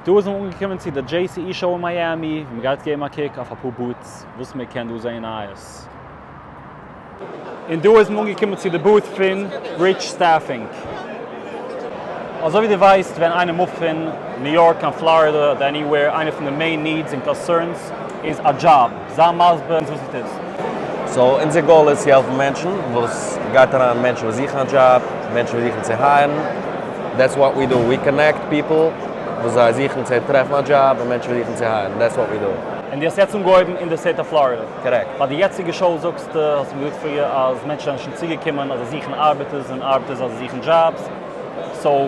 דא איז מען אנגעקומען צו די דזשעי סי אי שאו אין מיאמי, ווי מען גייט געבן א קוק אויף אפאר בוטס וואס מען קען דא זעהן נייעס. און דא איז מען אנגעקומען צו די בוט פון ריטש סטעפינג. אזוי ווי דו ווייסט ווען איינער מופט פון ניו יארק קיין פלארידע אדער עניווער איינער פון די מעין נידס און קאנסערנס איז א דזשאב. זיי מסביר אונז וואס עס איז. סאו אונזער גאול איז צו העלפן מענטשן וואס גייט אריין מענטשן וואס זוכן א דזשאב מענטשן וואס זוכן צו הייערן דעטס וואט ווי דא ווי קאנעקט פיפל וואס זיי זוכן צו טרעפן א דזשאב און מענטשן וואס זוכן צו הייערן דעטס וואט ווי דא. און דו האסט יעצט אנגעהויבן אין די סטעיט אוו פלארידע? קארעקט. ביי די יעצטיגע שאו זאגסטו, האסטו מיר געזאגט פריער אז מענטשן זענען שוין צוגעקומען אז זיי זוכן ארבעטערס און ארבעטערס אז זיי זוכן דזשאבס, סאו.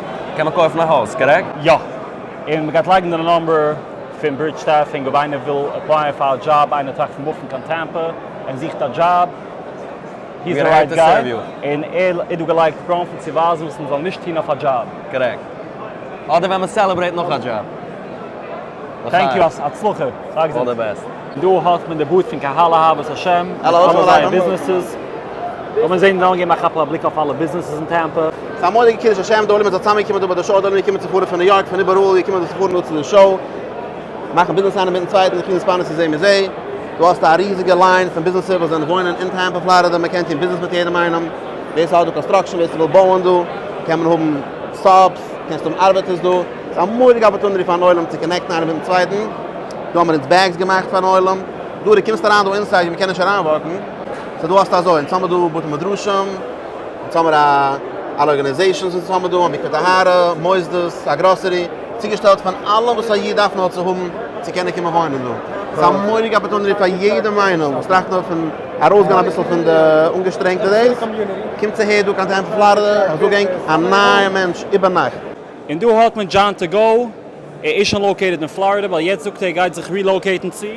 קען מען קויפן א הויז, קארעקט? יא. און מ'גייט לייגן די נומבער פון ברידזשטאון פונקט אויב איינער וויל עפלייען פאר א דזשאב, איינער טראכט פון מופן קיין טעמפע און זוכט א דזשאב, הי איז די רייט גיי, און ער איז דא געלייגט פראנט צו ווייזן וואס מ'זאל נישט טון אויף א דזשאב. קארעקט. אדער ווען מ'סעלעברעיט נאך א דזשאב. טענק יו, הצלחה. אלל די בעסט. דא האט מען די בוט פון קהל אהבת השם מיט אלע זייער ביזנעסעס. לאמיר זעהן נאר געבן א כאפל א בליק אויף אלע ביזנעסעס אין טעמפא. ס'איז א מורא'דיגע קידוש השם, די עולם איז צוזאמגעקומען דא ביי די שאו, די עולם איז געקומען צו פארן פון ניו יארק פון איבעראל איז געקומען דא צו פארן דא צו די שאו, מאכן ביזנעס איינער מיטן צווייטן, זיך אינטערספאנען צו זה מזה, דא האסטו א ריזיגע ליין פון ביזנעסער וואס זענען וואוינען אין טעמפא פלארידע, מען קען טון ביזנעס מיט יעדעם איינעם, ווער ס'האט דא קאנסטראקשען, ווער ס'וויל בויען דא, קען מען האבן סאבס, קענסט האבן ארבעטערס דא, ס'איז א מורא'דיגע אפערטונעטי פארן עולם צו קאנעקטן איינער מיטן צווייטן. דא האבן מיר אונז בעגס געמאכט פארן עולם, דא דו קומסט אריין דא אינסייד ווי מ'קען נישט אריין וואקן, סאו דא האסטו אזוי, אונז האבן דא בתי מדרשים, אונז האבן מיר א אלע ארגענעזעישאנס אונז האבן דא, א מקווה טהרה, מוסדות, א גראסערי, צוגעשטעלט פארן אלעם וואס א איד דארף נאר צו האבן צו קענען קומען וואוינען דא, ס'איז א מורא'דיגע אפערטונעטי פאר יעדעם איינעם וואס טראכט נאר פון ארויסגיין אביסל פון די אנגעשטרענגטע דעיס, קומטס אהער דא קיין טעמפא פלארידע, איך זאג ענק, א נייע מענטש איבערנאכט. און דא האט מען דזשאן טו גאו. ער איז שוין לאוקעיטעד אין פלארידע ווייל יעצט זאגט ער ער גייט זיך רילאוקעיטן צו.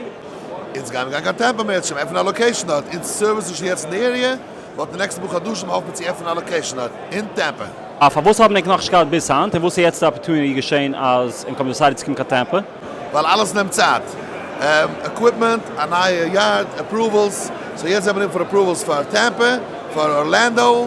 אונז גיימיר גיין קיין טעמפא מער, ער האט שוין עפענען א לאקעישן דארט, אונז סערוויסן שוין יעצט אין די עריע, וואלט אין נעקסטע פאר חדשים האף מיר צו עפענען א לאקעישן דארט, אין טעמפא. אה, פארוואס האבן ענק נאכנישט געהאט ביז היינט, און וואס איז יעצט די אפערטוניטי געשען אז ענק האבן דעסיידעד צו קומען קיין טעמפא? ווייל אלעס נעמט צייט, עקוויפמענט, א נייע יארד, עפראוועלס, סאו יעצט זעמיר אין פאר עפראוועלס פאר טעמפא, פאר ארלענדאו.